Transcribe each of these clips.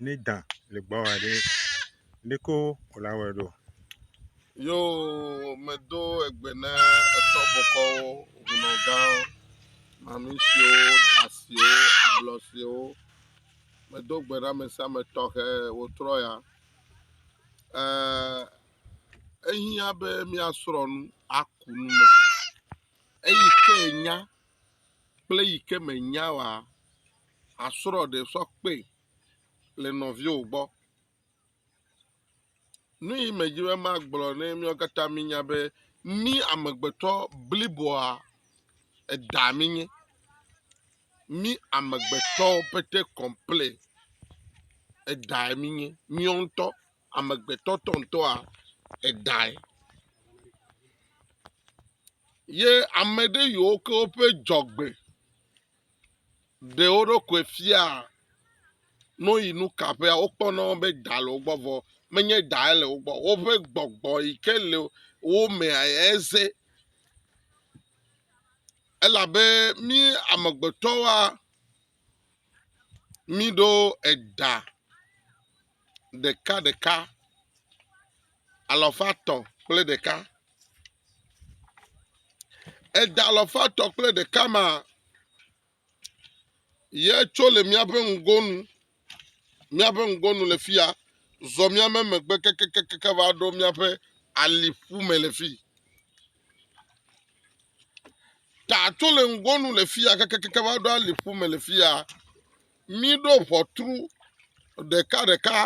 ne dã le gbɔwɔ aɖe ɖeko wòle awɔe ɖo. Yo medo egbe na etɔ bɔkɔwo, hunɔgawo, mami siwo, da siwo, ablɔ siwo. Medo gbe na ame sia ame tɔxɛ wòtrɔ ya. Ɛɛ, ehiã be míasrɔ̃ nu aku nu me. Eyi ke nya kple yi ke menya wa, asrɔ̃ ɖe sɔ kpee. le nɔviwo gbɔ. Nu yi medzi be magblɔ ne míawo katã míenya be mí amegbetɔ bliboa eda mínye. Mí amegbetɔwo pete kɔple edae mínye. Míawo ŋutɔ amegbetɔ tɔŋtɔa edae. Ye ame ɖe yiwo ke woƒe dzɔgbe. ɖe wo ɖokui fia ne woyi nu ka ƒea, wokpɔna be da le wogbɔ vɔ menye dae le wogbɔ o. Woƒe gbɔgbɔ yi ke le wo mea yae ze. Elabe mí amegbetɔwoa, míɖo eɖa ɖekaɖeka, alafa etɔ̃ kple ɖeka. Eda alafa etɔ̃ kple ɖeka ma ye tso le míaƒe ŋgonu, míaƒe ŋgonu le fia, zɔ míame megbe kekekeke va ɖo míaƒe aliƒu me le fi. Ta tso le ŋgonu le fia kekekeke va ɖo aliƒu me le fia. Míɖo ʋɔtru ɖekaɖeka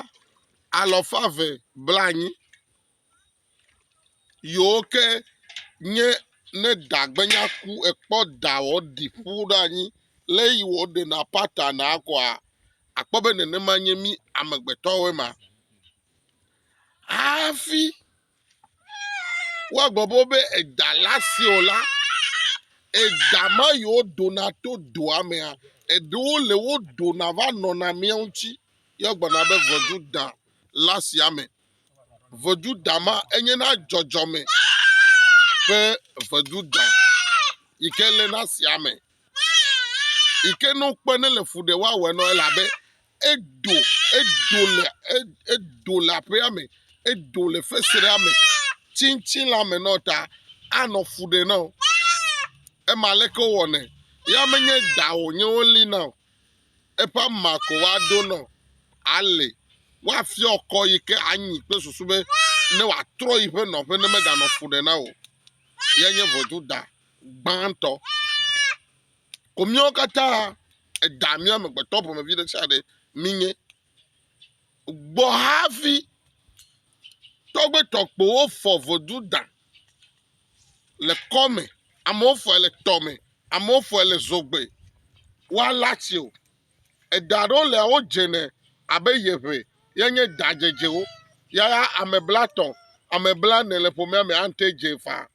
alafa eve blanyi. Yewo ke nye ne da gbenya ku ekpɔ da wɔ ɖi ƒu ɖe anyi le yi wɔ ɖe na pata na kɔa akpɔ be nene ma nye mi amegbetɔ woe ma. Hafi woa gbɔ bo be eda la si o la, eda ma yi wo dona to doa mea, eɖewo le wo dona va nɔna mia ŋuti. Yɔ gbɔna be vɔdu da la sia me. Ʋeduda ma enye na dzɔdzɔme ƒe ʋeduda yi ke le na sia me yi ke ne wokpɔ ne le fu ɖe woawɔe na wo elabe edo edo le e edo le aƒea me edo le fesrea me tsitsi le ame na wo ta anɔ fu ɖe na wo. Ema leke wowɔnɛ ya menye da wonye wolina o. eƒe ama ko woaɖo nɔ ali. Woafiɔ kɔ yi ke anyi kple susu be ne wòatrɔ yiƒe nɔƒe ne meganɔ fu ɖe na o. Ye nye ʋɔtruda gbãtɔ. Ko míawo katã eda mía amegbetɔ ƒomevi ɖe sia ɖe mínye. gbɔ hafi tɔgbe tɔkpowo fɔ vodu da le kɔ me. Amewo fɔe le tɔ me. Amewo fɔe le zogbe. Woala tsi o. Eda ɖewo le wo dze nɛ abe yeŋe ye nye da dzedzewo. Yaya ame blatɔ̃, ame blane le ƒomea me ate dze faa.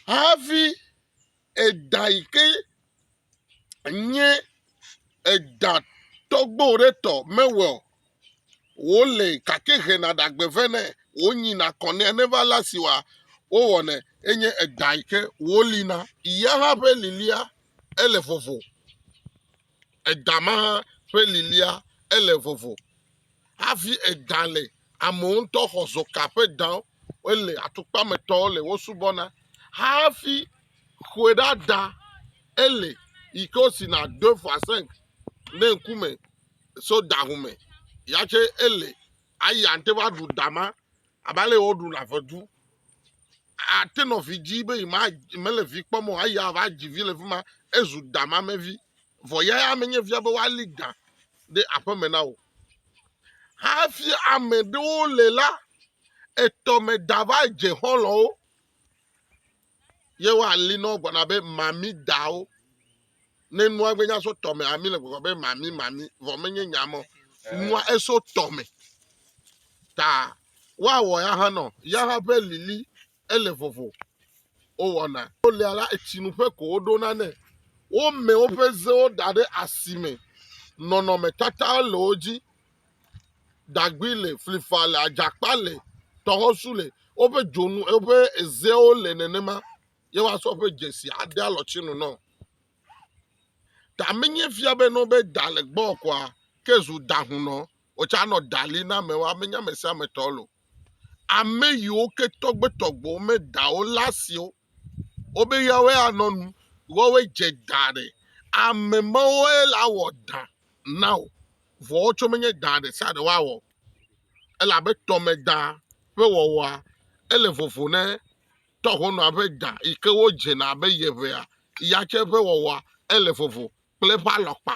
Hafi eda yi ke nye eɖa tɔgbo ɖe tɔ mewɔe o. Wole gake hena ɖagbe vɛ nɛ. Wonyina kɔ nɛ ne va le asi wòa, wowɔnɛ. Enye eɖa yi ke wolina. Ya hã ƒe lilia ele vovo. Eɖa ma hã ƒe lilia ele vovo. Hafi eɖa le Amewo ŋutɔ xɔ zoka ƒe dao wole atukpa me tɔwo le wo subɔ na hafi xɔe ɖa da ele yi ke wosi na do fasɛnk ne ŋku me so da ho me ya tse ele ayi ante va ɖu da ma abe ale woɖu na ƒe du. ate nɔ vi dzi be yi ma mele vi kpɔm o eya va dzi vi le fi ma ezu damamevi vɔ ya ya menye via be woali da ɖe aƒeme na wò hafi ame ɖewo le la etɔme da va dze xɔlɔwo ye woali nɔ gblɔna be mami dawo Ne nua gbe nya so tɔme ami le gbɔgbɔ be mami mami vɔ menye nya mɔ eh. nua eso tɔme ta woawɔ ya hã nɔ ya hã ƒe lili ele vovo wowɔna wolia la etsinuƒe ko woɖona nɛ wome woƒe zewo da ɖe asime nɔnɔmetata le wo dzi dagbi le flifa le adzakpa le tɔxɔsu le woƒe dzonu woƒe ezewo le nenema ye woasɔ ƒe dzesi ade alɔtsinu nɔ. Ta menye fia be nɔ be da le gbɔ kɔa, ke zu da hun nɔ, wòtsa nɔ da li na amewo, amenye ame sia ame tɔ lo. Ame yiwo ke tɔgbetɔgbewo me dawo la siwo wobe yawoe anɔ nu, woawoe dze da ɖe. Ame mawoe la wɔ da na wò, vɔ wotsɔ menye da ɖe sia ɖe woawɔ o. Elabe tɔmeda ƒe wɔwɔa, ele vovo ne tɔxɔnɔa ƒe ɖa yi ke wodzena abe yeʋea ya tsɛ ƒe wɔwɔa, ele vovo kple eƒe alɔkpa.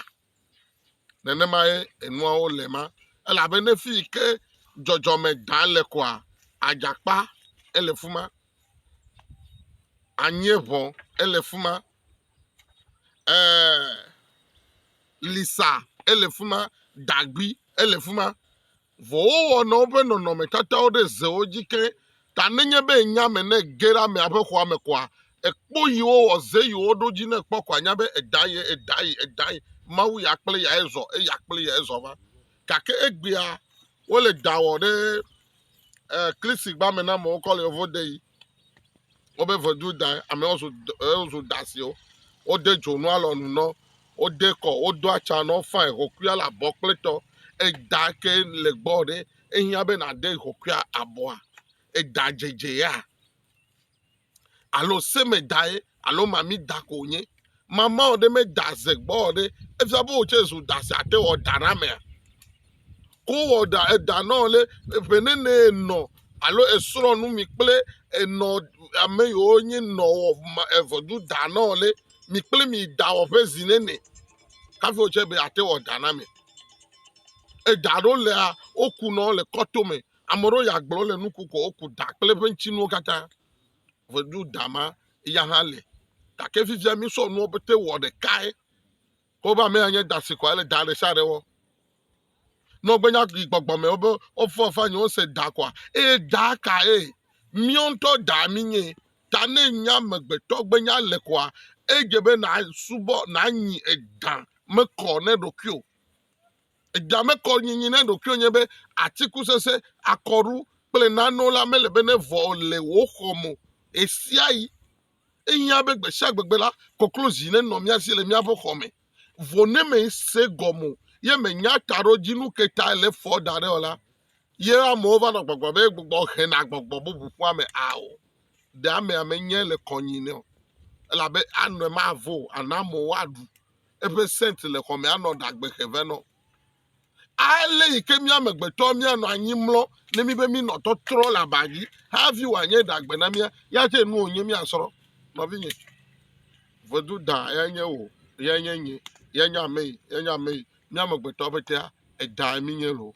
Nenemae enuawo le ema. Elabe ne fi yi ke dzɔdzɔme ɖa le koa, adzakpa ele fi ma, anyievɔ ele fi ma, ee lisa ele fi ma, dagbi ele fi ma. Vɔ wowɔnɔ woƒe nɔnɔmetatawo ɖe zewo dzi ke, ta nenye be nya me ne ge ɖe amea ƒe xɔa me koa, ekpɔ yi wowɔ ze yi woɖo dzi ne ekpɔ ko anya be edaa ye, edaa ye, edaa ye, Mawu ya kple eyae zɔ, eya kple eyae zɔ va. Gake egbea wole da wɔ ɖe eh, Krisigba me na amewo kɔ le yevo de yi. Wobe vedu da amewo zu wozu dasiwo. Wode dzonu alɔnu nɔ, wode kɔ, wodo atsa nɔ fain xoxoa le abɔ kple tɔ. Eda ke le gbɔ ɖe ehiã be nàde xoxoa abɔa? Eda dzedzea alo semedae alo mami da ko wònye. Mama ɔ ɖe me da ze gbɔ ɔ ɖe efia be wò tsɛ zu da si ate wɔ da na amea. Ko wɔ da eda nɔ le eƒe nene enɔ alo esrɔ̃ nu mi kple enɔ ame yiwo nye nɔ wɔ evɔdu da nɔ le mi kple mi da wɔ ƒe zi nene hafi wò tsɛ be ate wɔ da na ame. Eda ɖo lea woku nɔ le kɔtome. Ame ɖewo ya gblɔ le nuku ko woku da kple eƒe ŋutinuwo katã. ŋedu dama ya hã le gake fifia mísɔ nuwo pete wɔ ɖekae ko be amea nye dasi ko ale da ɖesiaɖe wɔ ne wogbe nya yi gbɔgbɔ me wobe wofɔ fa nyi wose da koa eye da ka ye míawo ŋutɔ da mi nye ta ne nya amegbetɔ gbe nya le koa edze be nasubɔ nanyi eda mekɔ ne ɖokuiwo Egamekɔ nyinyi na ɖokuiwò nye be atikusese, akɔɖu kple nanewo la mele be nevɔ o le wò xɔ me o. Ɣesiaɣi ehiã be gbesiagbegbe la, koklozi nenɔ mía si le míaƒe xɔ me. Vɔ ne mèse gɔme o ye mènya taɖodzinu ka tae le fɔ da ɖe o la, ye amewo va nɔ gbɔgblɔm be gbɔgbɔ hena gbɔgbɔ bubu ƒua me ao. Ɖe amea menyae le kɔnyinɛ o, elabe anɔe mavo o, ana amewo aɖu eƒe sent le xɔ me anɔ ɖagbe xe vɛ nɔ. Ale yi ke mía amegbetɔ míanɔ anyi mlɔ ne mi be minɔ tɔtrɔ le aba dzi hafi wòanye ɖagbe na mía ya tse nu wònye míasrɔ̃ nɔvinye. Vedu da ya nye wò ya nye nye ya nye ame yi ya nye ame yi mía amegbetɔ ƒetea edae mi nye loo.